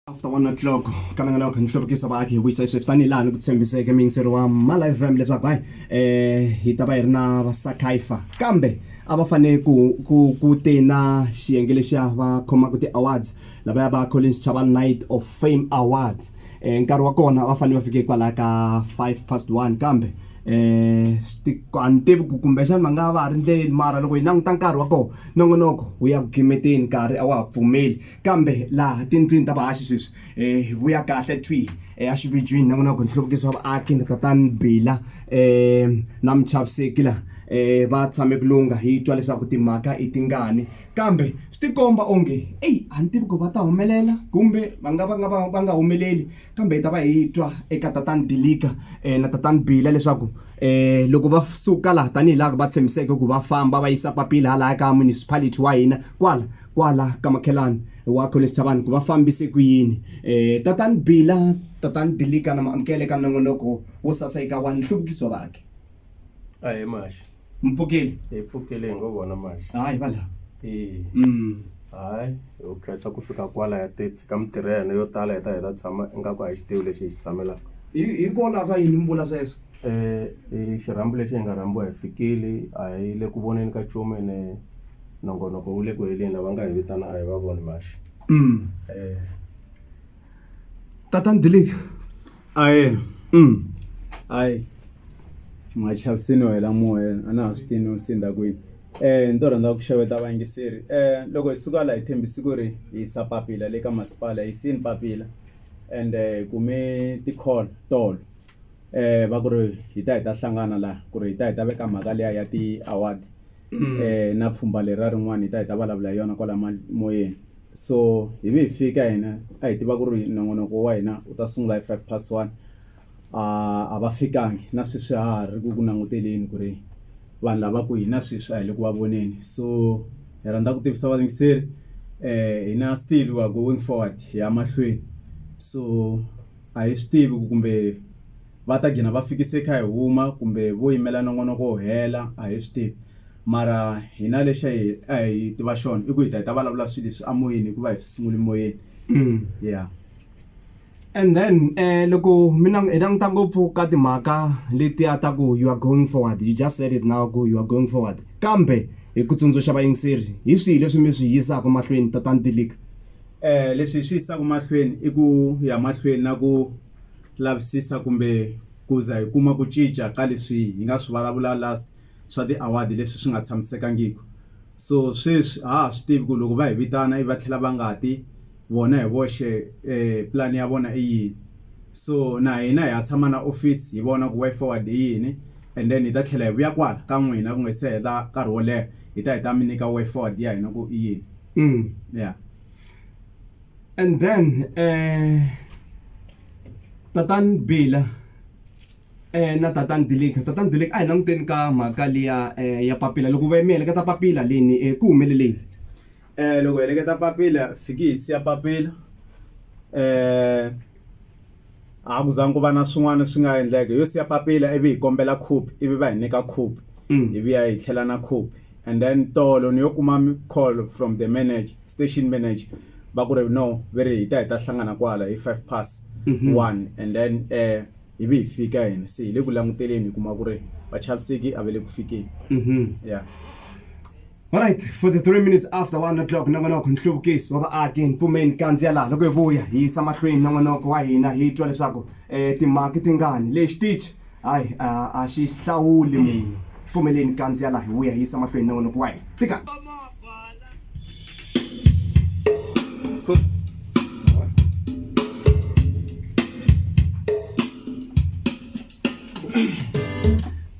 After 1 o'clock ka langa lawa kha ni hluvukisa vaaki hi vuyisa sweswi tanihi laha ni ku tshembiseke muyingiseri wa Malive FM leswaku hayi eh hi ta va hi ri na vasakaifa kambe a va fanele ku ku ku te na xiyenge lexiya va khomaka ti-awards lava ya va Collins Chava Night of Fame Awards eh nkarhi wa kona va fanele va fike kwalaya ka 5 past 1 kambe eh a ni tivi ku kumbexana va nga va ha ri ndleleni mara loko hi languta nkarhi wa kona nongonoko wu ya ku gimeteni nkarhi a wa ha pfumeli. kambe laha tindlwini ta vahaxi sweswi um hi vuya kahle twi exividyini na n'wina ku nhluvukiso wa vaaki na tatani bila um na muchaviseki laha um va tshame ku lunga hi twa leswaku timhaka i tingani kambe swi tikomba onge eyi a ni tivi ku va ta humelela kumbe va nga va nga va va nga humeleli kambe hi ta va hi twa eka tatani dilika um na tatani bila leswaku um loko va suka laha tanihi laha va tshembiseke ku va famba va yisa papila halaya ka municipality wa hina kwala kwala ka makhelani wakho le sithabani ku va fambise ku yini eh tatani bila tatani bilika na maamukele ka nongonoko wo sasa eka wa nhluvukiso vakhe a hi maxi mpfukeli hi pfukele hi ngo vona maxi hayi va lava e mm hayi ho khensa ku fika kwala ya ti tshika mitirho ya hina yo tala hi ta hi ta tshama ingaku a hi xi tivi lexi hi xi tshamelaka hi hi kona ka yini mi vula sweswo um xirhambo lexi hi nga rhambiwa hi fikile a hi le ku voneni ka nchumu ene Nongonoko wu le ku heleni lava nga hi vitana a hi va voni maxi. Tatana Dilika ahee hayi ma chaviseriwa hi la moya a na ha swi tivi no sendza kwini ni to rhandza ku xeweta va yingiseri loko hi suka la hi tshembisi ku ri hi yisa papila le ka masipala hi yisini papila ende hi kume ti-call tolo va ku ri hi ta hi ta hlangana laha ku ri hi ta hi ta veka mhaka liya ya ti-award um na pfhumba leriya rin'wana hi ta hi ta vulavula hi yona kwala moyeni so hi vi hi fika hina a hi tiva ku ri nongonoko wa hina u ta sungula hi five past one a va fikangi na sweswi ha ha ri ku ku languteleni ku ri vanhu lava ku hina sweswi a hi le ku va voneni so hi rhandza ku tivisa valingiseri um hi na still wa going forward hi ya mahlweni so a hi swi tivi ku kumbe Va ta gina va fikise kha hi huma kumbe vo yimela nongonoko wu hela, a hi swi tivi. Mara hina lexi a hi a hi tiva xona i ku hi ta hi ta vulavula swilo leswi emoyeni hikuva hi swi sungule moyeni. Ya. And then eh loko mi na hi languta ngopfu ka timhaka letiya ta ku you are going forward, you just said it now ku you are going forward. Kambe hi ku tsundzuxa vayingiseri, hi swihi leswi mi swi yisaka mahlweni Tatana Dilika? Eh leswi hi swi yisaka mahlweni i ku ya mahlweni na ku lavisisa kumbe ku za hi kuma ku cinca ka leswi hi nga swi vulavula last swa ti award leswi swi nga tshamisekangiki so sweswi ha ha swi tivi ku loko va hi vitana i va tlhela va nga ti vona hi voxe plan ya vona i yini so na hina hi ya tshama na office hi vona ku way forward i yini and then hi ta tlhela hi vuya kwala ka n'wina ku nga se hela nkarhi wo leha hi ta hi ta mi nyika way forward ya hina ku i yini ya And then, eh, Tatan Bila, eh, na Tatan Dilig. Tatan Dilig, ay, nang din ka mhaka liya eh, ya papila. Loko va yimele ka ta papila leni, eh, ku humeleleni? Eh, loko heleketa papila, fiki hi siya papila. Eh, A ku zangi ku va na swin'wana swi nga endleka. Yo siya papila ivi hi kombela khopi ivi va hi nyika khopi. Hi vuya hi tlhela na khopi. And then tolo ni yo kuma call from the manager, station manager va ku ri no ve ri hi ta hi ta hlangana kwala hi five pass one and then ivi hi fika hina. Se hi le ku languteleni hi kuma ku ri vachaviseki a va le ku fikeni. Yeah. Alright, 43 minutes after 1 o'clock nongonoko nhluvukiso wa vaaki ni pfumeni kandziya laha loko hi vuya hi yisa mahlweni nongonoko wa hina hi twa leswaku eh, timhaka ti ngani leyi xitichi hayi a a xi hlawuli munhu pfumeleni kandziya laha hi vuya hi yisa mahlweni nongonoko wa hina fika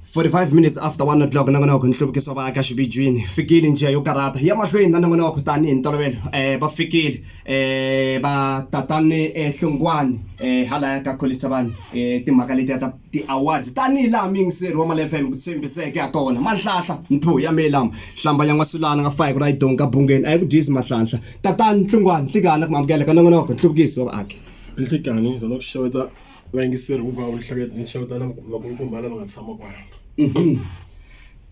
45 minutes after 1 o'clock na n'wana wa ku nhluvukiso va aka xividyini fikile njiya yo karhata ya mahlweni na na n'wana wa ku tani hi ntolovelo um va fikile um va tatani um hlongwani um halaya ka kholisa vanhu um timhaka letiya ta ti-awards tanihi laha miyingiseri wa mali fm ku tshembiseke ha tona manhlahla mpho ya mehe lama hlamba ya n'wasulana nga fayi ku ra yi donga ka bungeni a yi ku dyisi mahlanhla tatani hlongwani hlikana ku mamukela ka na n'wana wa ku nhluvukiso wa vaaki nhlikani hi zona ku xeweta Vayingiseri hinkwavo ni hlangana ni xeweta na vakulukumba lava nga tshama kwala.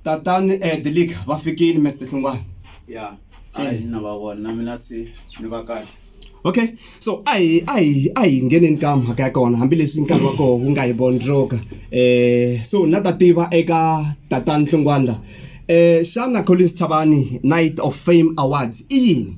Tatani eh Dilika va fikile Mister Hlungwana. Ya a hi na va vona na mina se ni va kahle. Okay so a hi a hi a hi ngheneni ka mhaka ya kona hambileswi nkarhi wa koho wu nga hi vondzoka eh so na ta tiva eka tatani Hlungwana la eh xana Collins Chavani Night of Fame Awards i yini?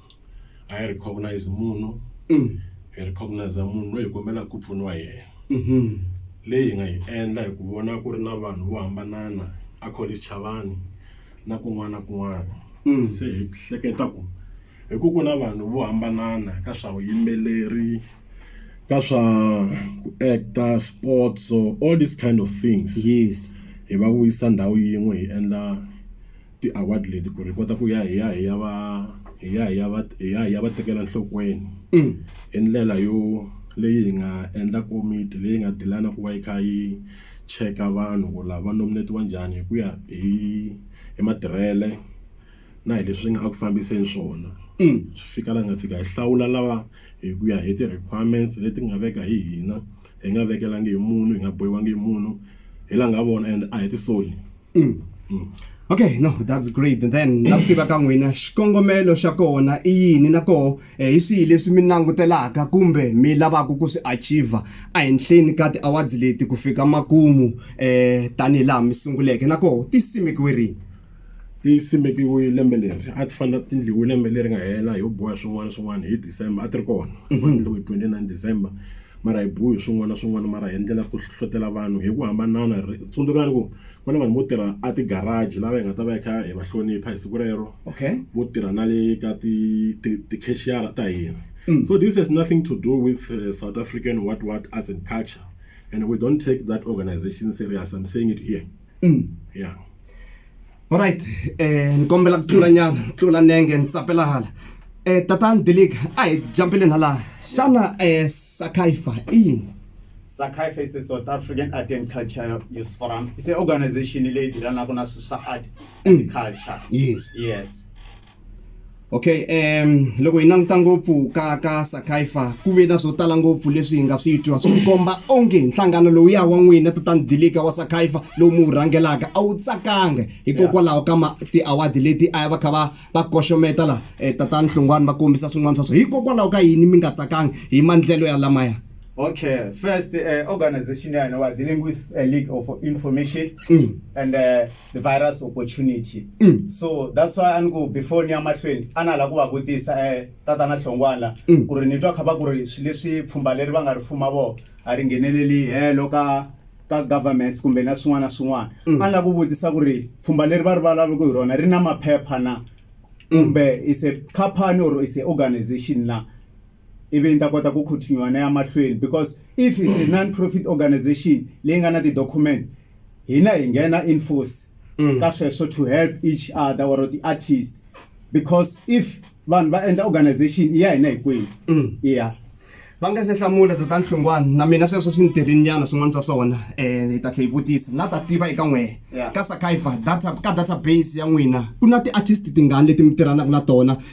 a hi recognize munhu hi recognize munhu loyi hi kombelaka ku pfuniwa hi yena mhm. leyi hi nga yi endla hi ku vona ku ri na vanhu vo hambanana a college chavani na kun'wana na kun'wana mm. se hi hleketa ku hi ku ku na vanhu vo hambanana ka swa vuyimbeleri ka swa ku actor sports all these kind of things yes hi va vuyisa ndhawu yin'we hi endla Ti-award leti ku ri hi kota ku ya hi ya hi ya va hi ya hi ya va hi ya hi ya va tekela nhlokweni hi ndlela yo leyi hi nga endla komiti leyi nga deal-ana ku va yi kha yi cheka vanhu ku lava nominate-iwa njhani hi ku ya hi hi matirhele na hi leswi nga eku fambiseni swona swi fika laha hi nga fika hi hlawula lava hi ku ya hi ti-requirements leti nga veka hi hina hi nga vekelangi hi munhu hi nga bohiwangi hi munhu hi langa vona and a hi ti soli. Mm. Mm. Okay, no, that's great. And then na ku tiva ka n'wina xikongomelo xa kona i yini na koho eh, hi swihi leswi mi langutelaka kumbe mi lavaka ku swi achieve ehenhleni ka ti-awards leti ku fika makumu eh tanihi laha mi sunguleke na koho ti simekiwe rini ti simekiwe lembe leri a ti fanele ti ndliwe lembe leri nga hela hi boha swin'wana swin'wana hi december a ti ri kona mhm. va ndliwe hi 29 december mara hi biwe hi swin'wana na swin'wana mara hi endlela ku hlohlotelo vanhu hi ku hambanana ri tsundzukani ku ku na vanhu vo tirha a ti garage lava hi nga ta va hi kha hi va hlonipha hi siku rero okay vo tirha na le ka ti ti ti cashier ta hina mm. so this has nothing to do with uh, south african what what arts and culture and we don't take that organization serious i'm saying it here mm. yeah Alright, eh ni kombela ku tlula nyana, tlula nenge ni tsapela hala. Eh tatani Dilig, a hi jumpile hala. Xana eh Sakaifa i yini? Sakaifa is a South African Art and Culture Youth Forum. It's an organization leyi tirhanaka na swa art and mm. culture. Yes. Yes. Okay, um loko hi languta ngopfu ka ka Sakaifa ku ve na swo tala ngopfu leswi hi nga swi twa swi komba onge nhlangano lowuya wa n'wina tatani Dilika wa Sakaifa lowu mi wu rhangelaka a wu tsakanga hikokwalaho ka ma ti-award leti a va kha va va koxometa la eh, tatani Hlongwani va kombisa swin'wana swa swo hikokwalaho ka yini mi nga tsakanga hi mandlelo ya lamaya Okay, first uh, organization ya hina wa the Linguist uh, League of Information mm. and uh, virus opportunity mm. so that's why a ni ku before ni ya mahlweni a na la ku va vutisa eh, tatana hlongwana la mm. ku ri ni twa kha va ku ri swi leswi pfhumba leri va nga ri fuma vo a ri ngheneleli helo ka ka governments kumbe na swin'wana na swin'wana mm. a ni la ku vutisa ku ri pfhumba leri va ri valavuku hi rona ri na maphepha na mm. kumbe mm. is a company or is a organization na ivi ni ta kota ku continue na ya mahlweni because if it's a non-profit organization leyi nga na ti-document hina hi nghena in force mm. ka sweswo to help each other or ti-artist because if vanhu va endla organization i ya hina hikwenu mm. ya va nga se hlamula tata nhlungwana na mina sweswo swi ni tirhinyana swin'wana swa swona um hi ta tlhe hi vutisa na ta tiva eka n'wehe ka sakaiva data ka database ya n'wina ku na ti-artist tingani leti mi tirhanaka na tona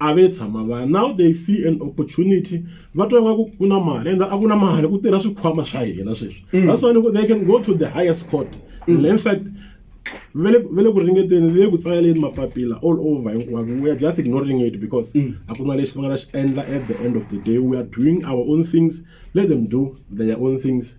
a ve tshama va now they see an opportunity va twa nga ku ku na mali and a ku na mali ku tirha swikhwama swa hina sweswi mm. that's why they can go to the highest court mm. in fact vele vele ku ringeteni le ku tsaleleni mapapila all over hinkwako we are just ignoring it because mm. a ku na lexi va nga ta xi endla at the end of the day we are doing our own things let them do their own things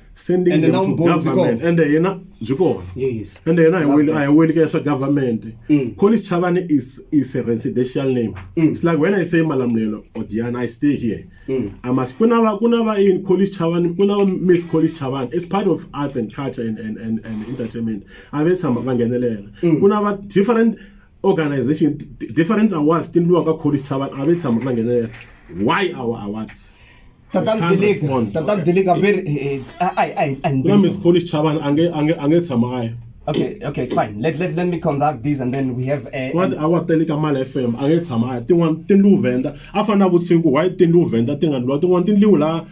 sending Ende them na to umbhoni byi government kona. ende yena byi kona Yes. ende yena a hi Love weli- that. a hi weli ka swa government Mm. college chavani is, is a residential name Mm. it's like when i say malamulelo or diana i stay here Mm. i must ku na va ku na va in college chavani ku na va miss college chavani it's part of arts and culture and, and, and, and entertainment a ve tshama va nghenelela Mm. ku na va different organization di- different awards ti ndliwa ka college chavani a ve tshama va nghenelela why our awards tatana delika tatana delika very eh, eh, ai ai ai no miss polish chaban ange ange ange tshama ai okay okay it's fine let let let me conduct this and then we have a what our delika mal fm ange tshama ai ti wan ti lu venda afana vutsingu why ti lu venda ti nga lu ti wan ti lu la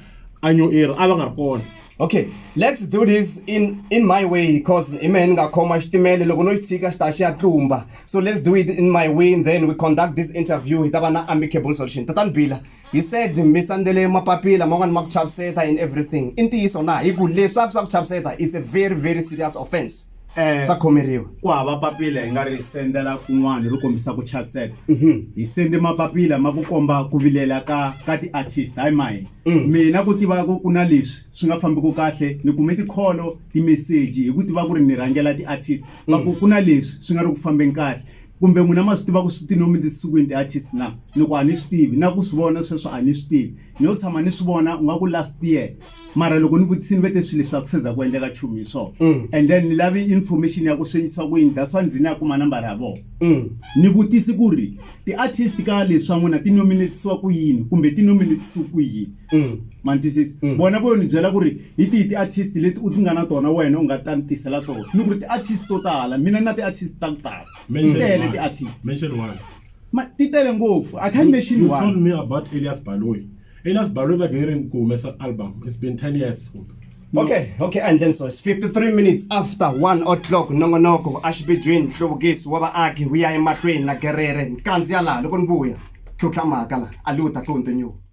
anyo era ava nga kona okay let's do this in in my way because ime ndingakhoma xitimele loko no xi tshika xi ta xi ya tlumba so let's do it in my way and then we conduct this interview hi ta va na amicable solution tatani bila He said, Mi sandzele mapapila man'wana ma ku chaviseta and everything. I ntiyiso na? Hi ku leswi a swi swa ku chaviseta, it's a very, very serious offence. Swa khomeriwa. Ku hava papila hi nga ri sendela kun'wana ro kombisa ku chaviseka. Hi sende mapapila ma ku komba ku vilela ka ka ti-artist, hayi ma hina. Mina ku tiva ku ku na leswi swi nga fambiki kahle, ni kume ti-call-o, timeseji hi ku tiva ku ri ni rhangela ti-artist, va ku ku na leswi swi nga ri ku fambeni kahle. kumbe n'wina ma swi tiva ku swi ti nomi tinsukwini ti-artist na ni ku a ni swi tivi na ku swi vona sweswo a ni swi tivi ni yo tshama ni swi vona u nga ku last year mara loko ni vutisi ni ve te swilo leswi a ku seza ku endleka chumu hi swona mm. and then ni lavi information ya ku swi endlisiwa ku yini that's why ndzi ni ya kuma nambara ya vona mm. ni vutisi ku ri ti-artist ka leswi swa n'wina ti nominatisiwa ku yini kumbe ti nominatisiwa ku yini mm. ma ni twisisi mm. vona vo ni byela ku ri hi tihi ti-artist leti u ti nga na tona wena u nga ta ni tisela tona ni ku ri ti-artist to tala mina ni na ti-artist ta ku tala ti tele ti-artist ti tele ngopfu i can't mention one me about elias baloy elias baloy va gere ku humesa album it's been 10 years kumbe okay okay and then so it's 53 minutes after 1 o'clock nongonoko axibijwini nhluvukiso wa vaaki wu ya emahlweni na gerere nkandziya laha loko ni vuya tlhutlha mhaka laha a liwu ta continue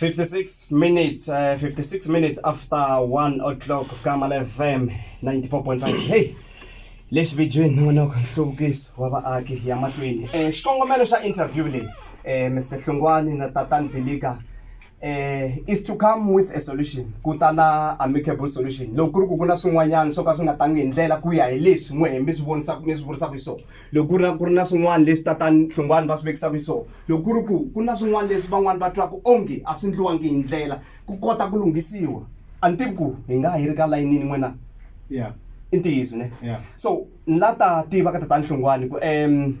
56 minutes uh, eh, 56 minutes after 1 o'clock kama la fm 94.5 hey lexi vijini nonoko nhluvukiso wa vaaki ya mahlweni um xikongomelo xa interview leyi um mr hlungwani na tatan dilika um eh, is to come with a solution ku ta na amicable solution loko ku ri ku ku na swin'wanyana swo ka swi nga tangi hi ndlela ku ya hi leswi n'wehe mi swi vonisaka mi swi vurisaka hi swona loko ku ri na ku ri na swin'wana leswi tatani hlongwani va swi vekisaka xiswona loko ku ri ku ku na swin'wana leswi van'wani va twaka onge a swi ndliwangi hi ndlela ku kota ku lunghisiwa a ni tivi ku hi nga ha yi ri ka layinini n'wina yeah i ntiyiso ne yeah so ni la ta tiva ka tatani hlongwani ku um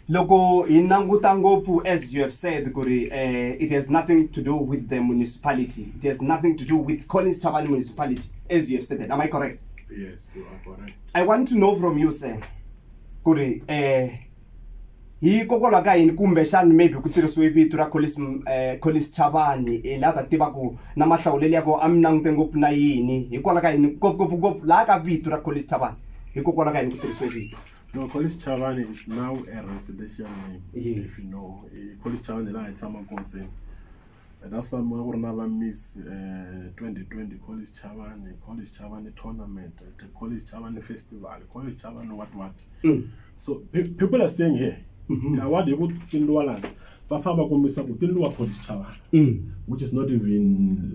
loko hi languta ngopfu as you have said ku ri um it has nothing to do with the municipality it has nothing to do with collins chavani municipality as you have stated am i correct yes you are correct i want to know from you sir ku ri um hikokwalaho ka yini kumbexana maybe ku tirhisiwe vito ra Collins um Collins Chavani hi laha ta tiva ku na mahlawulelo ya kona a mi langute ngopfu na yini hikwalaho ka yini ngopfungopfu ngopfu laha ka vito ra Collins Chavani hikokwalaho ka yini ku tirhisiwe vito No, College Chavani is now a residential name. Yes. If you know, eh, College Chavani la hi tshama kona se. And that's why mwa ku ri na va miss uh, eh, 2020 college chavani college chavani tournament the college chavani festival college chavani what what mm. so pe people are staying here mm -hmm. award hi ku tindliwa lana va famba va kombisa ku tindliwa college chavani mm. which is not even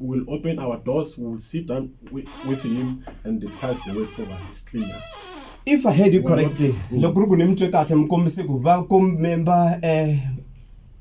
we will open our doors, we will sit down with, with him and discuss the way forward. It's clear. if i heard you correctly loko ku ri ku ni mi twe kahle mi kombise ku va komemba um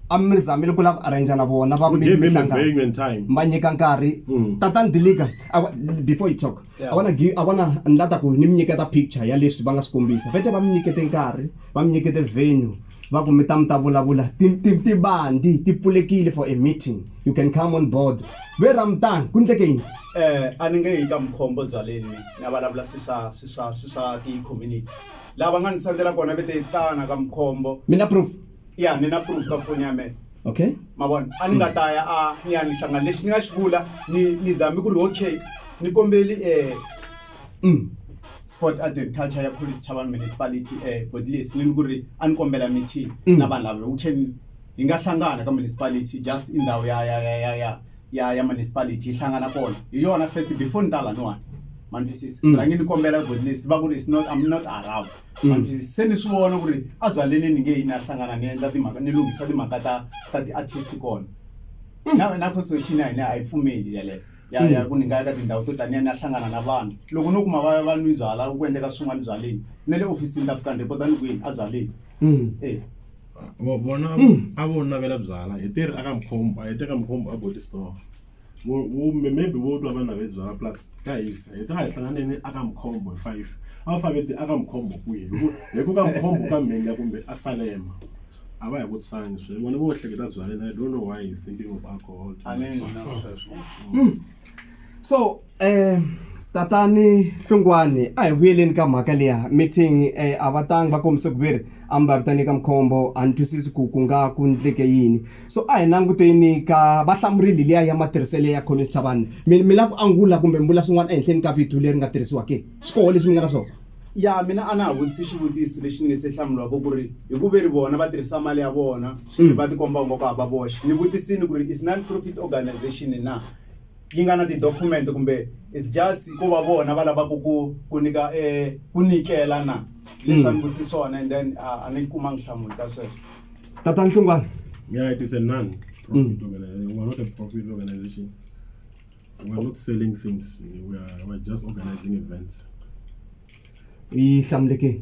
a mi zamile ku lava ku arrangea na vona va We gave him a minhlangano venue and time. va nyika nkarhi tatani diliga awa- before you talk A va na gi, a va na, ni la ta ku ni mi nyiketa picture ya leswi va nga swi kombisa. Vete va mi nyikete nkarhi, va mi nyikete venue, va ku mi ta mi ta vulavula, ti, ti, tibandi ti pfulekile for a meeting, you can come on board. Ve ra mi tani, ku ndleke yini? Eh, a ni nge yi ka Mkhombo byaleni mina, ni ya vulavula swi swa, swi swa, swi swa ti community. Laha va nga ni sendela kona, ve te tana ka Mkhombo. Mi na proof? Ya, ni na proof ka foni ya mehe. okay ma vona a ni nga ta ya a ni ya ni hlangana lexi ni nga xi vula ni ni zame ku ri okay ni kombeli um sport art and culture ya police chavan municipality um bodlis ni ni ku ri a ni kombela meeting mm. na vanhu lava u can hi nga hlangana ka municipality just i ndhawu ya ya ya ya ya ya ya municipality yi hlangana kona hi yona first before ni ta laniwani ma ni twisisa mm. rhangi ni kombela bodlis va ku ri is not im not around Mm. se ni swi vona ku ri a byaleni ni nge yi ni ya hlangana ni endla timhaka ni lunghisa timhaka ta ta ti-artist kona mm. na na constitution ya hina a yi pfumeli yaleyo ya ya mm. ku ni nga ya ka tindhawu to taniya ni ya hlangana na vanhu loko no kuma va va nwi byala ku endleka swin'wana byaleni na le ofisini ta fika ni repota ni kwini a byaleni e vona a vo navela byala hi teri a ka mkhombo a hi teka mkhombo a body store vo vo maybe vo twa va nave byalwa plus ka hisa hi ta va hi hlanganeni a ka mukhombo hi five a va fanele ti a ka mukhombo kwihi hi ku hi ku ka mukhombo ka mhinga kumbe a salema a va hi vutisani sweswi vona vo hleketa byaleni i don't know why you thinking of alcohol too much. so tatani hlungwani a hi vuyeleni ka mhaka liya meeting eh, a va tangi va kombise ku ve ri a mi va vitane ka mukhombo a ni twisisi ku ku nga ku ndleke yini so a hi languteni ka va hlamurili liya ya matirhiselo ya collins chavani mi mi la ku angula kumbe mi vula swin'wana ehenhleni ka vito leri nga tirhisiwa ke swi koho leswi mi nga na swona ya mina a na ha vutisi xivutiso lexi ni nge se hlamuriwaka ku ri hi ku ve ri vona va tirhisa mali ya vona swi va tikomba ungaku hava voxe ni vutisini ku ri is non profit organization na yi nga na tidokhumente kumbe is just ko va vona va lavaka ku ku nyika um ku nyikela na leswi a ni vutise swona and then a ni kumanga nhlamulo ka sweswo tata nhlungwana Yeah, it is a non-profit mm. organization. We are not a profit organization. We are not selling things. We are, we are just organizing events. We are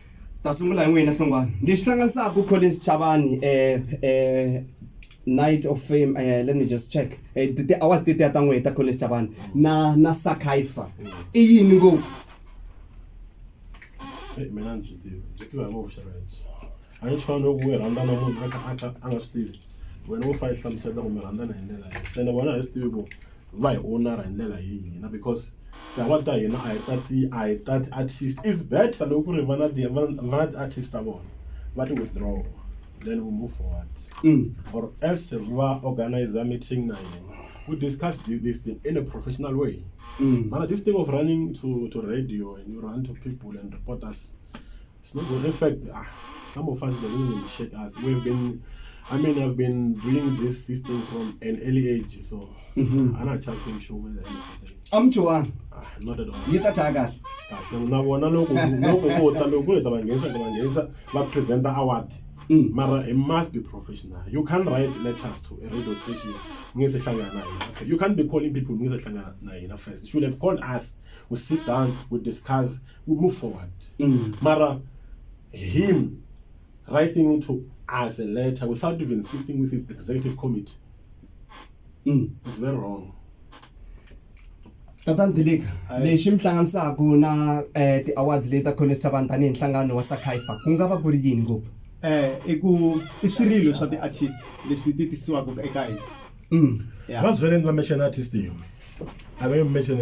Ta sungula hi n'wina Hlongwane. Lexi hlanganisaka Collins Chavani Night of Fame let me just check ti-awards tetiya ta n'wehe ta Collins Chavani na na Sakaifa i yini ngopfu? Mina ni byi tivi, byi tiviwa hi vona vuxaka lebyi. A ni swi fani loko u rhandza na munhu a kha a kha a nga swi tivi. Wena wo fa i hlamusela ku mi rhandzana hi ndlela yini se ni vona hi swi tivi ku va hi owner hi ndlela hi hina because tihava ta hina a hi ta ti a hi ta ti artist is better loko ku ri va na ti va na ti artist ta vona va ti withdraw then we move forward mm. or else va organize a meeting na yena we discuss this, this thing in a professional way mm. mana this thing of running to, to radio and you run to people and reporters It's not good. In fact, ah, some of us don't even shit us. We've been, I mean, I've been doing this this thing from an early age, so mm-hmm. I'm not chatting show with anything. I'm Joanne. Ah, not at all. You touch our gas. na vona loko loko vo ta loko le ta va nghenisa ta va nghenisa va presenta award mm. mara it must be professional you can't write letters to a radio station ngeke sehlangana na hina you can't be calling people ngeke sehlangana na hina first you should have called us we sit down we discuss we move forward mm. mara him writing to us a letter without even sitting with his executive committee mm. is very wrong tatan dilika lexi mi hlanganisaka na eh, ti-awards leti ta college tavani tanihi nhlangano wa sakaifa ku nga va ku ri yini ngopfu eh i ku i swirilo swa ti-artist leswi ti tisiwaka eka hina mm. va swi vele ni va mention artist yin'we a va yi mention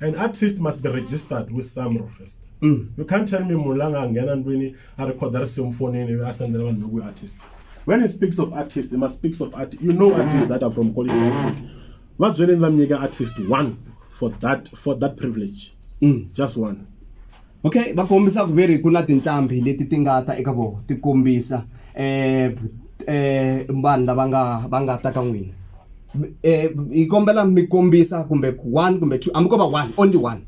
an artist must be registered with samro first mm. you can't tell me munhu la nga nghena ndlwini a rikhoda risimu fonini ivi a sendela vanhu lokuyi artist when he speaks of artist he must speaks of art you know artist that are from quality va byeleni va mi nyika artist one for that for that privilege mm. just one okay va kombisa ku ve ri ku na tinqambi leti ti nga ta eka vona ti kombisa um um vanhu lava nga va nga ta ka n'wina um hi kombela mi kombisa kumbe one kumbe two hambi ko va one only one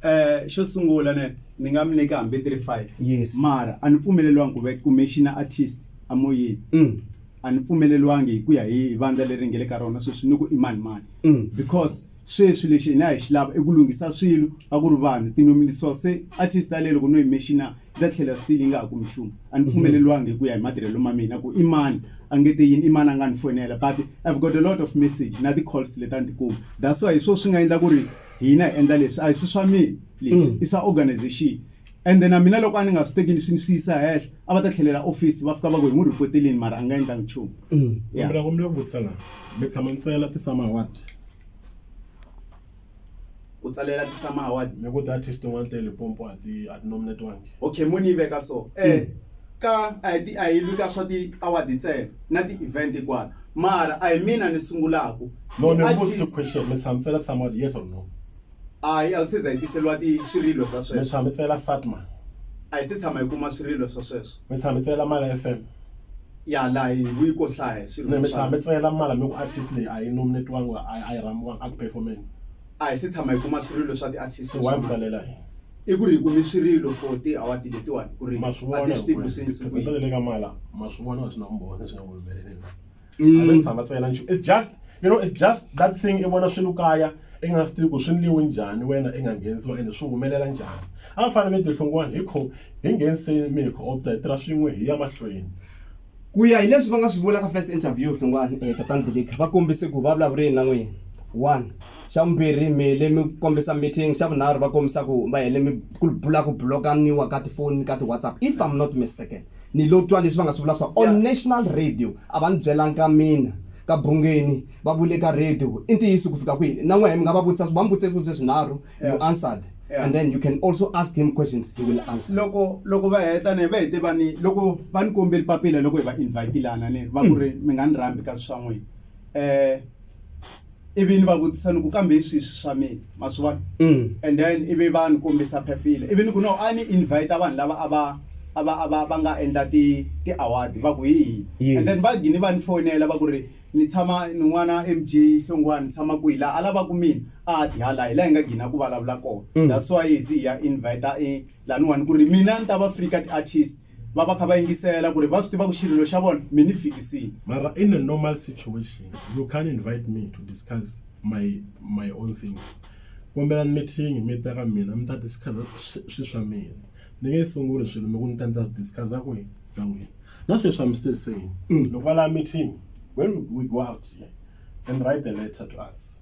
Eh xo sungula ne ni nga mi nyika hambi 35 Yes. mara a ni pfumeleliwangi ku ve commissioner artist a moyeni Mm. a ni pfumeleliwangi hi ku ya hi hi vandla leri nge le ka rona sweswi ni ku i mani mani Mm. because Sweswi lexi hina hi xi lava i ku lunghisa swilo a ku ri vanhu, tinomilisiwa se a ti sitale loko no yi mexina yi ta tlhela still yi nga ha kumi nchumu. A ni pfumeleliwangi hi ku ya hi matirhelo ma mina ku i mani a nge te yini, i mani a nga ni foyinela but I've got a lot of message na ti calls leti a ni ti kumi that's why hi swo swi nga endla ku ri hina hi endla leswi a hi swi swa mina leswi i swa organisation ende na mina loko a ni nga swi teki ni swi ni swi yisa hehla a va ta tlhelela office va fika va ku hi n'wi report-elini mara a nga endlangi nchumu. Mina ku vutisa la mi tshama ntsena ti summer award? ku tsalela ti tshama hawadi ni ku ti-artist tin'wana te lipompo a ti a ti nominetiwangi okay mo ni yi veka so eh ka a hi ti- a hi lwi ka swa ti-award ntsena na ti-event hinkwato mara a hi mina ni sungulaku no ni Ti-artist- vutise question mi tshama tsela tshama awadi yes or no hayi a wu se za hi tiseliwa ti swirilo swa mi sweswo tshama tsela satma a hi se tshama hi kuma swirilo swa sweswo mi tshama mi tsayela mala FM ya laha hi yi ko hlaya swilo mi mi tshama mi tsayela mala mi ku artist leyi a yi nominetiwangi a yi- a yi rhambiwangi a ku performeni a hi se tshama hi kuma swirilo swa ti-artist so wa mi tsalela hi i ku ri hi kumi swirilo for ti-award letiwani ku ri ma swi a vona ti swi tivi ku swi yini siku yihi. le ka mala ma swi vona swi na vumbhoni swi nga ku humeleleni mm. a tshama ntsena nchu it's just you know it's just that thing i vona swilo kaya i nga swi tivi ku swi ndliwe njhani wena i nga nghenisiwa ende swi humelela njhani a va fanele mi tihlungwani hi kho hi ngheniseni mi hi kho opta hi tirha swin'we hi ya mahlweni ku ya hi leswi va nga swi vula ka first interview hlungwani eh, tatani dilika va kombise ku va vulavureni na n'wina one xa vumbirhi mi le mi kombisa meeting xa vunharhu va kombisa ku va hele mi ku bula ku blokaniwa ka tifoni ka ti-whatsapp if i'm not mistaken Ni lo twa leswi va nga swi vula swa on National Radio, a va ni byelanga mina. Ka Bungeni, va vule ka radio, i ntiyiso ku fika kwini? Na n'wehe mi nga va vutisa, va mi vutise swivutiso swinharhu, you answered, and then you can also ask him questions, he will answer. Loko, loko va heta ne, va hete va ni, loko va ni kombeli papila loko hi va invite-ile a na ni va ku ri mi nga ni rhambi kasi swa n'wina. Eh. ivi ni va vutisa ni ku kambe hi swihi swi swa mina ma swi vona Mm. and then ivi va ni kombisa phepile ivi ni ku no a ni invite vanhu lava a va a va a va va nga endla ti ti award va ku hi hi Yes. and then va gini va ni fonela va ku ri ni tshama ni n'wana mj hlongwani ni tshama kwihi laha a lavaka mina a ti hala hi laha hi nga gina ku vulavula kona that's why hi ze hi ya invite i laniwani ku ri mina ni ta va free ka ti-artist Va va kha va yingisela kuri va swi tiva ku xirilo xa vona mi ni fikisile. Mara in a normal situation you can't invite me to discuss my my own things. Kombelani mi thingi mi ta ka mina mi ta discuss swi swa mina. Ni nge sunguli swilo mi ku ni ta ni ta swi discuss kwini ka n'wina. Na sweswi I'm still saying loko va lava meeting when we go out here then write a letter to us.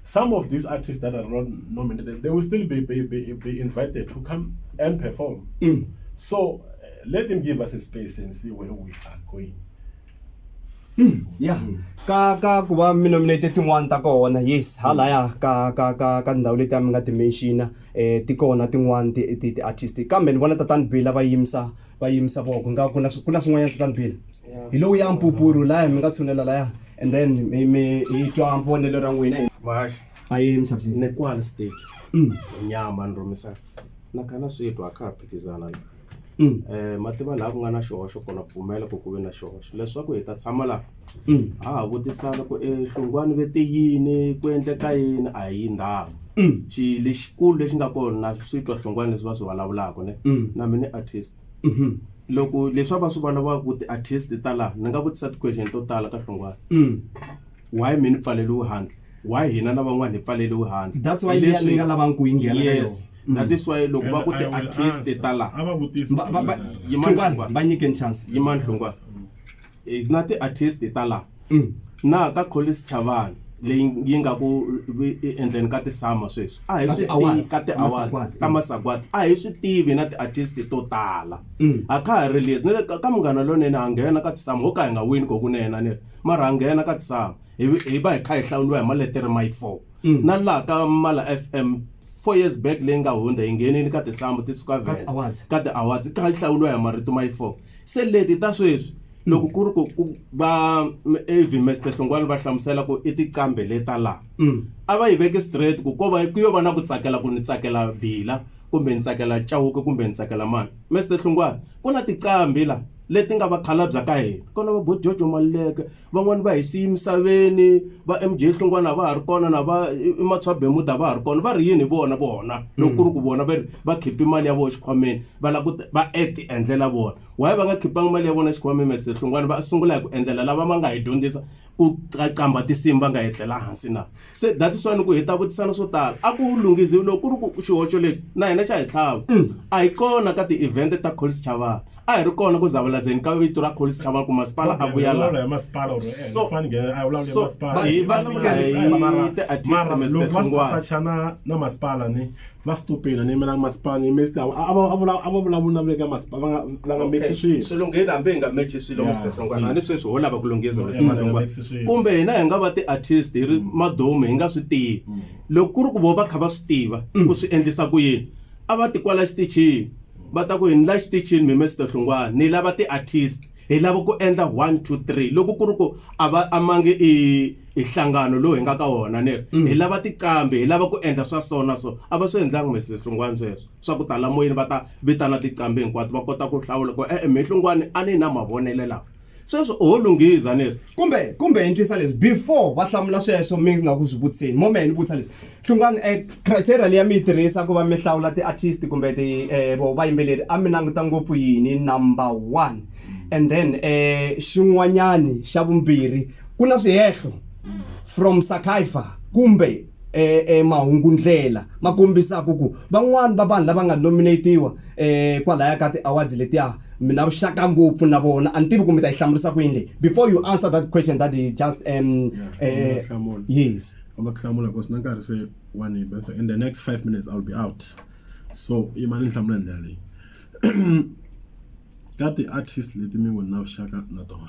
Some of these artists that are not nominated, they will still be, be, be, be invited to come and perform. Mm. So uh, let them give us a space and see where we are going. Mm. Yeah. Mm. Ka ka ku va mi nominated tin'wana ta kona yes halaya mm. ka ka ka ka ndhawu leti a mi nga ti mention eh ti kona tin'wana ti ti artist kambe ni vona tatani Bill va yimisa va yimisa voko nga ku na ku na swin'wanyana kutani bile hi lowu ya mpupuru laya mi nga tshunela laya and then mi mi hi twa vonelo ra n'wina hi Mahaxi, a yi misavisi ni kwala stage. Mm. Nyama ni rhumisa. Na kana switwa a ka ha phikizana la. Mm. Eh, mativa laha ku nga na xihoxo kona pfumela ku ku ve na xihoxo leswaku hi ta tshama laha ha ha vutisana ku i hlungwani ve te yini ku endleka yini a hi ndhawu xi lexikulu lexi nga kona na swi twa hlungwani leswi va swi vulavulaka ne na mina artist loko leswi a va swi vulavulaka ku ti-artist ta laha ni nga vutisa ti-question to tala ka hlungwani why mi ni pfaleliwe handle why hina na van'wani hi pfaleliwe handle That's why Hi liya leswi- ni nga lavanga ku yi nghena ka yes yona. that is why loko va ku And I will ti-artist answer. ta laha A va vutisi Va- va- va- Yimani Hlungwani, Hlungwani. va nyikeni chance yimani hlungwani Hi na tiartist ta la na ka Collins Chavani leyi yi nga ku endleni ka tisama sweswi a hi swi tivi ka tiaward ka masagwadi a hi swi tivi na tiartist to tala a kha ha release ni le ka ka munghana lonene ha nghena ka tisama ho ka hi nga wini ko kunene ni ri mara ha nghena ka tisama hi hi va hi kha hi hlawuriwa hi maletere my four na laha ka mala fm four years back leyi nga hundza hi nghenile ka tisambu ti suka vhele ka tiawards hi kha hi hlawuriwa hi marito my four Se leti ta sweswi loko ku ri ku ku va Avi Mister Hlongwane va hlamusela ku i tiqambe le ta laha mm. a va yi veki straight ku ko va ku yo va na ku tsakela ku ni tsakela bila kumbe ni tsakela Chauke kumbe ni tsakela mani Mister Hlongwane ku na tiqambi la leti nga vakhalabya ka hina kona va bo Jojo Maluleke van'wani va hi siye emisaveni va MJ Hlungwana a va ha ri kona na va i- i Matswa Bemut a va ha ri kona va ri yini hi vona vona loko ku ri ku vona va ri va khipi mali ya vona xikhwameni va lava ku ti- va et endlela vona why va nga khipanga mali ya vona xikhwameni Mr Hlungwana va sungula hi ku endlela lava va nga hi dyondzisa ku qaqamba tinsimu va nga etlela hansi na Se that is why ni ku hi ta vutisana swo tala. A ku lunghiziwi loko ku ri ku xihoxo lexi na hina xa hi tlhava. A hi kona ka ti-event ta Collis Chavani. A hi ri kona ku zavalazeni ka vito ra Collis Chavani ku masipala a vuya laha. So, so hi va tshika hi ti-artist Mister Hlongwane. va stupid ni yimela masipala ni yimela sitava a va a vula a va vulavula na vule ka masipala va nga va nga mixi swilo swilungheni hambi hi nga mechi swilo Yeah, mr hlongwana yes. ni sweswi ho lava ku lunghisa Yeah, Mr. yeah, Hlongwana. mixi swilo. kumbe hina hi nga va ti-artist hi ri madomi hi nga swi tivi loko ku ri ku vo va kha va swi tiva ku swi endlisa ku yini a va ti kwala xitichini va ta ku hi ni la xitichini mi mr hlongwana ni lava ti-artist hi lava ku endla 1 2 3 loko ku ri ku a va amangi i i hlangano lowu hi nga ka wona ni mm. hi lava tiqambi hi lava ku endla swa so na so a va swi endlangi mesi hlungwani sweswo swa ku tala moyeni va ta vitana tiqambi hinkwato va kota ku hlawula ku e-e mi hlungwani a ni na mavonele lawa sweswo oho lunghiza ni ri Kumbe, kumbe endlisa leswi, before va hlamula sweswo mi nga ku swi vutiseni, mo mehe ni vutisa leswi, Hlungwani, eh, criteria leyi a mi yi tirhisa ku va mi hlawula ti-artist kumbe ti, eh, voho vayimbeleri, a mi languta ngopfu yini, number one, and then, eh, xin'wanyani xa vumbirhi, ku na swihehlo from Sakaifa kumbe. eh, eh, mahungundlela ma kombisaka ku van'wani va vanhu lava nga nominatiwa eh, kwalaya ka ti-awards letiya mina vuxaka ngopfu na vona a ni tivi ku mi ta yi hlamurisa ku yini leyi before you answer that question that is just um, eh, hlamula. yes famba ku hlamula because na nkarhi se wa ni ba in the next five minutes i'll be out so yima ni hlamula hi ndlela leyi ka ti-artist leti mi ngo ni na vuxaka na tona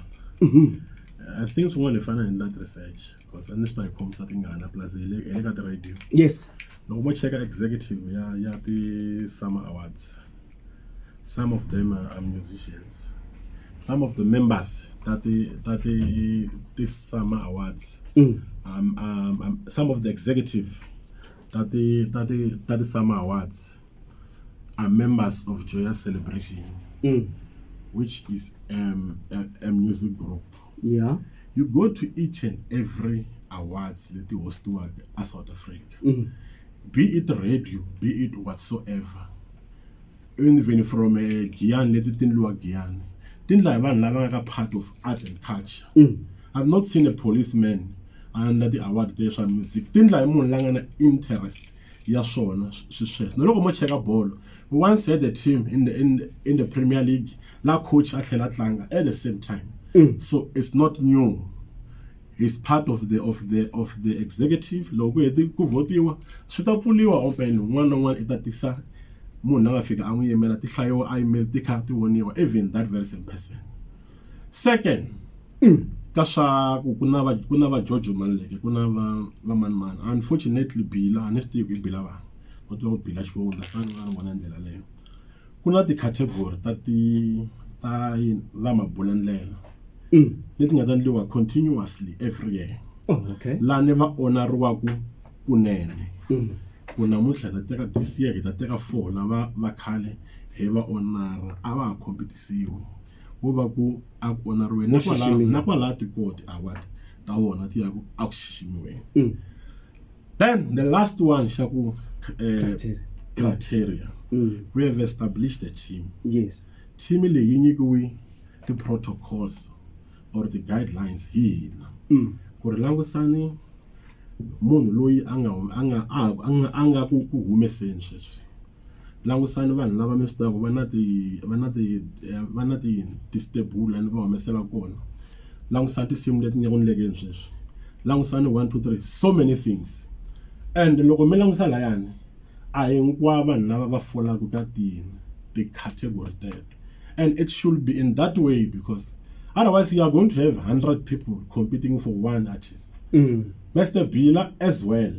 i think swin'wana hi fanele hi endla ti-research because a ni swi ta yi khomisa tingana plus hi le hi le ka ti-radio yes loko mo cheka executive ya ya ti-summer awards some of them are, are musicians some of the members ta ti ta ti ti-summer awards Mm. um, um, um, some of the executive ta ti ta ti ta ti-summer awards are members of joyous celebration Mm. which is um, a, a music group yeah you go to each and every awards leti hostiwaka a south africa mm -hmm. be it radio be it whatsoever even from uh, eh, giyani leti ti ndliwa giyani ti ndla hi vanhu lava nga ka part of arts and culture mm -hmm. i've not seen a policeman under the award te swa music ti ndla hi munhu la nga na interest ya swona swisweswo na loko mo cheka bolo we once had a team in the, in, in the premier league la coach a tlhela tlanga at the same time mm. so it's not new is part of the of the of the executive loko ku heti ku votiwa swi ta pfuliwa open un'wana na un'wana i ta tisa munhu la nga fika a n'wi yimela ti hlayiwa a yimeli ti kha ti voniwa even that very same person Second ka swa ku ku na va ku na va George Maluleke ku na va va mani mani unfortunately Bila a ni swi tivi ku i Bila va ku tiva ku Bila xivongo ni ta ni vona hi ndlela leyo ku na ti-category ta ti ta yini va mabulandlela leti nga ta endliwa continuously every year Oh, okay. laha ni va onariwaku kunene ku namuntlha hi ta teka this year hi ta teka four lava va khale hi va onara a va ha competisiwi wo va ku a ku onariweni Wo nakwala xiximiwa. nakwala tikoti award ta wona ti ya ku a ku xiximiweni Mm. then the last one xa ku eh, Criteria. criteria Mm. we have established the team yes team leyi yi nyikiwe ti-protocols or ti-guidelines hi hina Mm. ku ri langusani munhu loyi a nga hum- a nga a a nga a nga ku ku humeseni sweswi Langusani vanhu lava mi swi tivaka va na ti va na ti va na ti ti-stable laha ni va humesela kona. Langusani tinsimu leti nga ku endlekeni sweswi. Langusani one two three so many things and loko mi langusa layani a hinkwavo vanhu lava va folaka ka ti ti-category teto and it should be in that way because otherwise you are going to have hundred people competing for one artist. Master Bila as well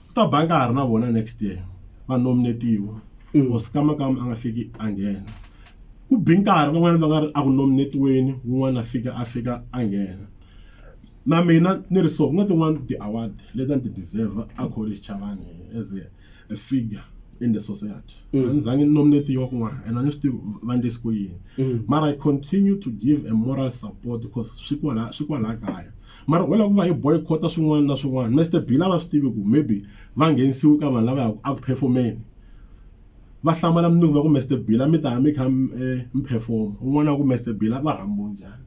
Ku ta ba nkarhi na vona next year va nominetiwa mm. or sikamakama a nga fiki a nghena ku bi nkarhi van'wana va nga ri a ku nominetiweni wun'wana a fika a fika a nghena na mina ni ri so ku nga tin'wana ti-award leti ni ti deserve a college chavani as a, a figure in the society mm. a ni zange ni nominetiwa kun'wana and a ni swi tivi va ndlisi ku yini mm. mara i continue to give a moral support because swi kwalaha kaya Mara u lava ku va hi boycott-a swin'wana na swin'wana. Mister Bill a va swi tivi ku maybe va nghenisiwe ka vanhu lava ya ku eku perform-eni. Va hlamala mundzuku va ku Mister Bill a mi ta ya mi kha mi perform-a. Un'wana a ku Mister Bill a va rhambiwe njhani.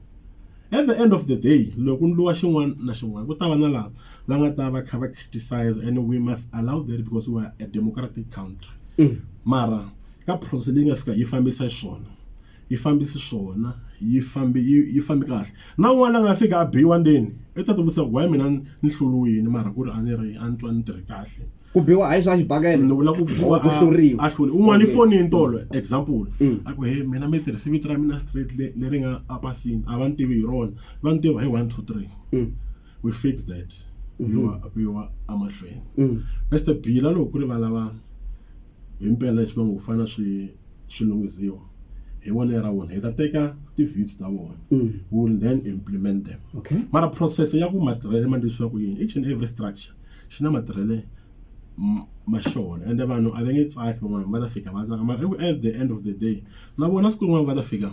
At the end of the day loko ku endliwa xin'wana na xin'wana ku ta va na lava va nga ta va kha va criticiser and we must allow that because we are a democratic country. Mara ka process leyi nga fika yi fambisa xiswona. yi fambi xiswona yi fambi yi yi fambi kahle na un'wana la nga fika a biwa ndzeni i ta tivutisa ku why mina ni hluriwini mara ku ri a ni ri a ni twa ni tirhe kahle ku biwa hayi swa xibakele ni vula ku biwa ku hluriwa a hluri un'wana i fonini tolo example mm. a ku he mina mi tirhise vito ra mina straight leri nga a pasini a va ni tivi hi rona va ni tiva hi one two three mm. we fix that mm-hmm. biwa a biwa emahlweni mm. best bila loko ku ri va lava Himpela leswi va ngo ku fanele swi swi lunghisiwa hi vonelo ra vona hi ta teka ti-vits ta vona mm. we will then implement them okay. mara process ya ku matirhele ma ndlisiwa ku yini each and every structure xi na matirhele ma xona ende vanhu a va nge tsaki van'wana va ta fika va tsaka mara at the end of the day na vona siku rin'wana va ta fika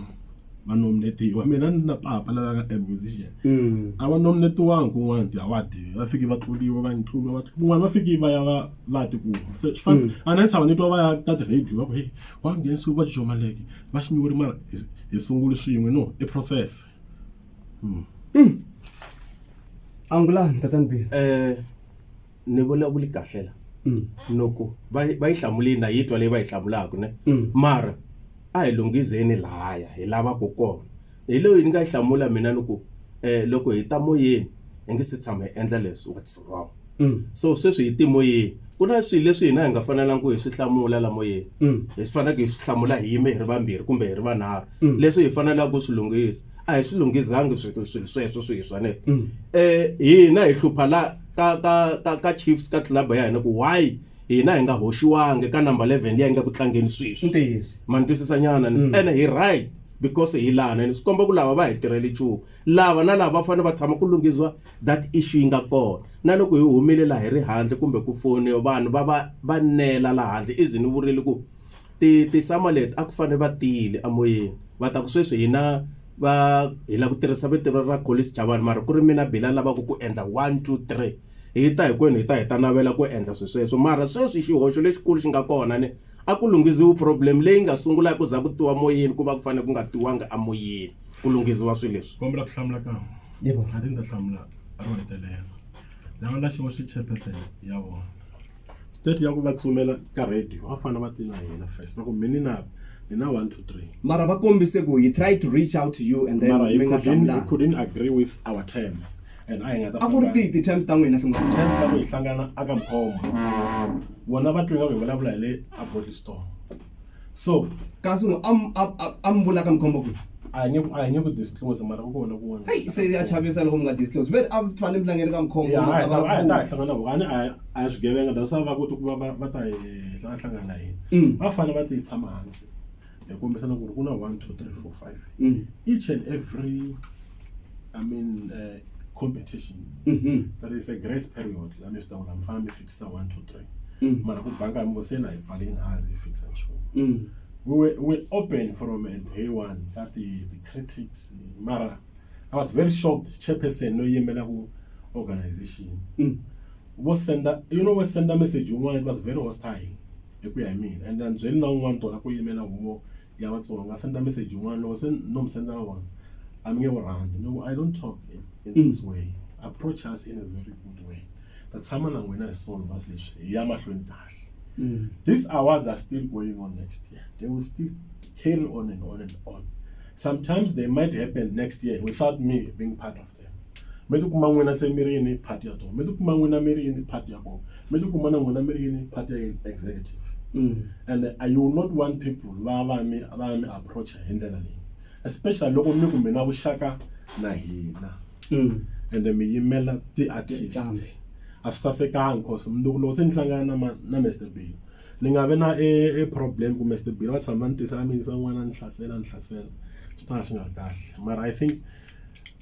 va nominetiwa mina ni na papa la nga a musician Mm. a va nominetiwangi kun'wana ti award va fiki va tluliwa va ntluliwa va kun'wana va fiki va ya va va ya tikuma se swi fana a na tshava ni twa va ya ka ti-radio va ku heyi wa nghenisiwe va jomaleke va xinyiweri mara hi- hi sunguli swin'we no i process angulani tatani bill Eh, ni vulavuli kahle la loko va yi- va yi hlamulini na yi twa leyi va yi hlamulaka ne mara a hi lunghizeni lahaya hi lavaka kona hi leyi ni nga yi hlamula mina ni ku um loko hi ta moyeni hi nge se tshama hi endla leswi what's wrong so sweswi hi timoyeni ku na swilo leswi hina hi nga fanelangi ku hi swi hlamula la moyeni hi swi faneleke hi swi hlamula hi yime hi ri vambirhi kumbe hi ri vanharhu leswi hi fanelaka ku swi lunghisa a hi swi lunghizangi swi- swilo sweswo swi hi swaneke um hina hi hlupha la ka ka ka ka Chiefs ka club ya hina ku why hina hi nga hoxiwangi ka number 11 leyi nga ku tlangeni sweswi ntiyiso ma ni twisisa nyana ni ene hi right because hi lana ni swi komba ku lava va hi tirhele nchumu lava na lava va fanele va tshama ku lunghisiwa that issue yi nga kona na loko hi humile laha hi ri handle kumbe ku foni vanhu va va va nela laha handle i ze ni vurile ku ti tisama leti a ku fanele va tiyile emoyeni va ta ku sweswi hina Va, hi lava ku tirhisa vito ra ra Collins Chavani mara ku ri mina Billy a lavaka ku endla one, two, three. Hi ta hinkwenu hi ta hi ta navela ku endla swilo sweswo mara sweswi xihoxo lexikulu xi nga kona ni, a ku lunghiziwi problem leyi nga sungula hi ku za ku tiwa moyeni ku va ku fanele ku nga tiwanga emoyeni ku lunghiziwa swilo leswi. Kombela ku hlamula kan'we. Yebo. I think ni ta hlamula ro hetelela. Lava na xihoxo i chairperson ya vona. State ya ku va tsumela ka radio a fana va ti na hina first va ku mini na hi na 1 2 3 mara va kombise ku he tried to reach out to you and then mara he mi nga couldn't, he hlamulanga couldn't agree with our terms and a hi nga ta a ku ri famba- tihi ti-terms ta n'wina finga terms ta ku hi hlangana aka mkhombo vona va twi nga ku hi vulavula hi le a body store so kasi no am am am vula ka mkhombo ku a nge a nge ku disclose mara ku kona ku hey se ya chavisa loko nga disclose ve a tfane mhlangeni ka mkhombo ya ha ta ha ta hlangana ku ani a swi gevenga da sa va ku ku va va ta hlangana hlangana hi mm. va fana va ti tshama hansi hi kombisa na ku ri ku na 1 2 3 4 5 mm. each and every i mean uh, competition mm -hmm. there is a grace period la mi swi ta ku la mi fana mi sa one two three Mm. mara ku banga mi ngo se na yi pfali yi nga ha ndzi fixa nchumu Mm. we were, we were open from uh, day one ka ti, ti critics mara i was very shocked chairperson no yimela ku organization Mm. vo senda you know we senda message yin'wana it was very hostile hi ku ya hi mina and then byeli na un'wana tona ku yimela huvo ya vatsonga senda message yin'wana loko se no mi sendela wona a mi nge wu rhandzi no i don't talk in, in this way approach us in a very good way Ta tshama na n'wina hi soul va leswi hi ya mahlweni kahle. Mm. These awards are still going on next year. They will still carry on and on and on. Sometimes they might happen next year without me being part of them. Me ti kuma n'wina se mi ri yini part ya tona. Me ti kuma n'wina mi ri yini part ya kona. Me ti kuma na n'wina mi ri yini part ya yini executive. Mm. And I will not want people va va mi va mi approach hi ndlela leyi. especially loko mi ku mi na vuxaka na hina mm. ende mi yimela ti-artist a swi sasekanga cause mundzuku loko se ni hlangana na na Mr Bill ni nga vi na e, e problem ku Mr Bill va tshama ni tisa a mi yingisa n'wana ni hlasela ni hlasela swi ta nga swi nga ri kahle mara i think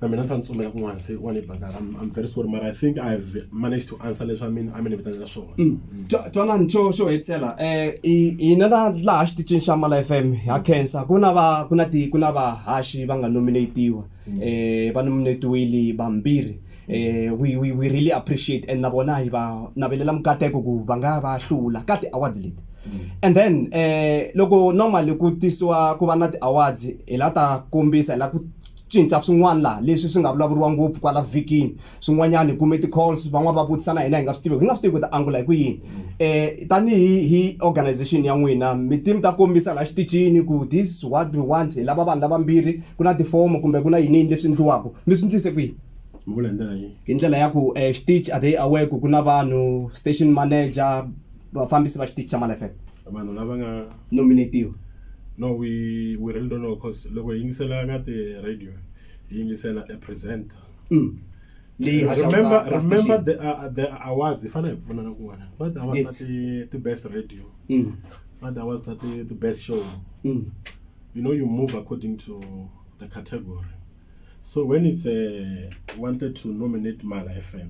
na mina swa ni tsumela kun'wana se wa ni baka I'm, I'm very sorry mara I think I've managed to answer leswi a mi a mi ni vitana swona Mm. Twa- twanani xo xo hetisela um hina la laha xiticini xa mala f m ha khensa ku na va ku na ti ku na vahaxi va nga nominatiwa um va nominatiwile vambirhi um we, we, we really appreciate and na vona hi va navelela mikateko ku va nga va hlula ka ti-awards leti and then um loko normally ku tisiwa ku va na ti-awards hi la ta kombisa hi la ku Swintshwa swin'wana laha leswi swi nga vulavuriwa ngopfu kwala vhikini. Swin'wanyana hi kume ti-calls, van'wana va vutisa na hina hi nga swi tiveki. Hi nga swi tivi ku hi ta angula hi ku yini. Tanihi hi organization ya n'wina, mi te mi ta kombisa laha xitichini ku this is what we want, hi lava vanhu lavambirhi, ku na tifomo kumbe ku na yini yini leswi endliwaka. Mi swi ndlise ku yini? Mi vula hi ndlela yihi? Hi ndlela ya ku xitichi are they aware ku ku na vanhu, station manager, vafambisi va xitichi xa malefepe vanhu lava nga nominatiwa no we we really don't know cause loko hi yingisela ka ti radio hi yingisela a presenter mm. leyi remember remember the uh, uh, the awards hi fanele hi pfunana kun'wana va ti awards ta ti best radio mm. va ti awards ta ti ti best show mm. you know you move according to the category so when it's a uh, wanted to nominate mala fm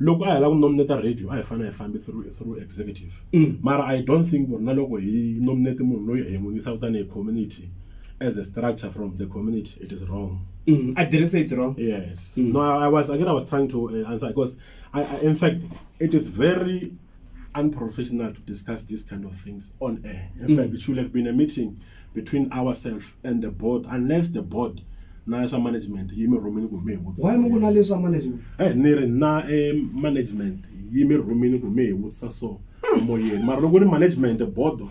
loko a hi lava ku nominate radio a hi fanele hi fambi through through executive mara i don't think ku ri na loko hi nominate munhu loyi hi n'wi yisaka tanihi community as a structure from the community it is wrong Mm, I didn't say it's wrong. yes no I, I was again i was trying to uh, answer because I, I, in fact it is very unprofessional to discuss these kind of things on air. In mm. fact, it should have been a meeting between ourselves and the board, unless the board na swa management yi mi rhumini ku mi hi vutisa why mi ku na leswa management eh ni ri na e management yi mi rhumini ku mi hi vutisa so moyeni mara loko ri management bodo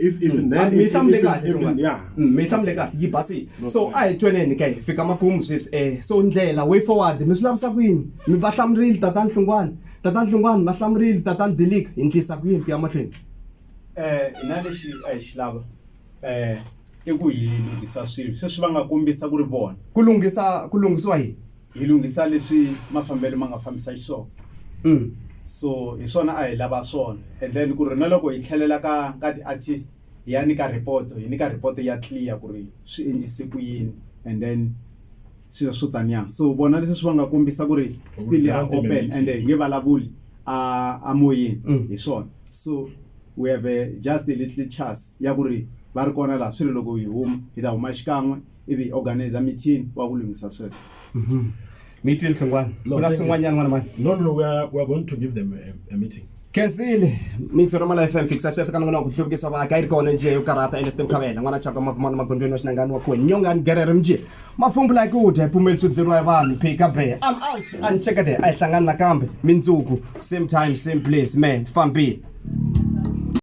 If, even then, mi if- hlamule if- kahle if- rungani yeah. Mm, mi hlamule kahle yi basile so a hi tweneni ka hi fika makumu sweswi eh so ndlela way forward mi swi lavisa ku yini mi va hlamurile tatani nhlungwani tatani nhlungwani va hlamurile tatani dilika hi ndlisa ku yini ku ya mahlweni eh hina lexi a hi xi lava eh i ku hi lunghisa swilo sweswi va nga kombisa ku ri vona ku lunghisa ku lunghisiwa yini hi lunghisa leswi mafambelo ma nga fambisa xiswona mm. so hi swona a hi lava swona and then ku ri na loko hi tlhelela ka ka ti-artist hi ya nyika report hi nyika report ya clear ku ri swi endlise ku yini and then swilo swo taniya so vona leswi swi va nga kombisa ku ri still ya open and hi nge vulavuli a a moyeni mm. hi swona so we have a just a little chance ya ku ri va ri kona laha swi ri loko hi huma hi ta huma xikan'we ivi hi organizer meeting wa ku lunghisa sweswo Meeting Hlongwane. No, Ku na thank you. swin'wanyana n'wana mani. No, no, no, we are, we are going to give them a, a meeting. Kensile, mixer wa Mala FM fixa sweswo ka nongonoko ku hluvukisa vaaki a yi ri kona njhe yo karhata Ernest Mkhavela n'wana chaka mavumana magondzweni wa xinangani wa kuwe nyongani gerere mjhe mafumbula yi ku dya yi pfumeli swi byeriwa hi vanhu phika be I'm out a ni cheka there a hi hlangani nakambe mindzuku same time same place man fambile